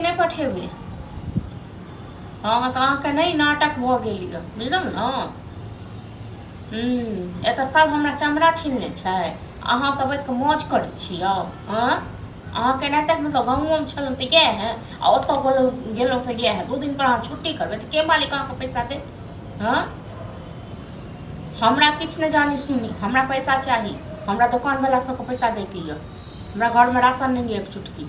नहि पठेबै हँ तऽ अहाँके नहि नाटक भऽ गेल यऽ बुझलहुँ ने हूँ एतऽ सब हमरा चमड़ा छीनने छै अहाँ तऽ बैस कऽ मौज करै छियै हँ अहाँ केना तक मतलब गाँवोमे छलहुँ तऽ इएह है आ ओतऽ गेलहुँ गेलहुँ तऽ इएह है दू दिन पर अहाँ छुट्टी करबै तऽ के मालिक अहाँके पैसा देत हँ हमरा किछु नहि जानी सुनी हमरा पैसा चाही हमरा दोकानवला सबके पैसा दैके यऽ हमरा घरमे राशन नहि यऽ एक चुटकी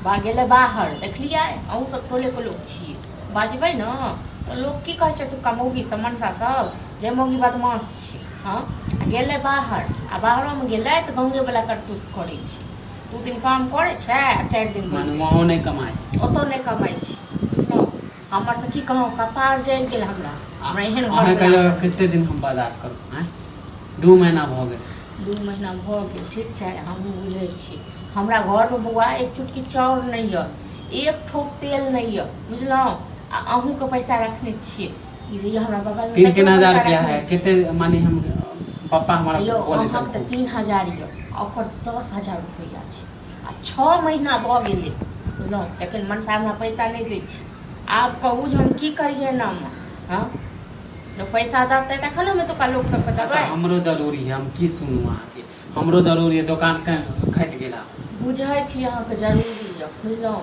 बा गेलै बाहर देखलियै अहूँ सब टोलेके लोक छियै बजबै ने तऽ लोक की कहै छै एतुका मौगी सब मनसा सब जे मौगी बदमाश छै हँ आ गेलै बाहर आ बाहरोमे गेलै तऽ गंगे वाला करतूत करै छै दू दिन काम करै छै आ चारि दिन बैसै मनमाओ छै नहि कमाइ ओतौ नहि कमाइ छै बुझलहुँ हमर तऽ की कहूँ कपार जल गेल हमरा हमरा एहन अहाँ कहियो कते दिन हम बर्दाश्त करब आँय दू महीना भऽ गेल दू महीना भऽ गेल ठीक छै हमहूँ बुझै छी हमरा घरमे बौआ एक चुटकी चाउर नहि यऽ एक ठोप तेल नहि यऽ बुझलहुँ आ अहूँके पैसा रखने छियै ई जे हमरा बगल तीन तीन हजार रुपया है कते माने हम पप्पा हमारा यौ अहाँके तऽ तीन हजार यऽ ओकर दस हजार रुपैआ छै आ छओ महीना भऽ गेलै बुझलहुँ एखन मनसा हमरा पैसा नहि दै छै आब कहू जे हम की करियै एनामे हँ जब पैसा देतै तखन हम एतुका लोक सबके अच्छा देबै हमरो जरूरी है हम की सुनू अहाँके हमरो जरूरी है दोकान कहीं घटि गेला बुझै छी अहाँके जरूरी यऽ बुझलहुँ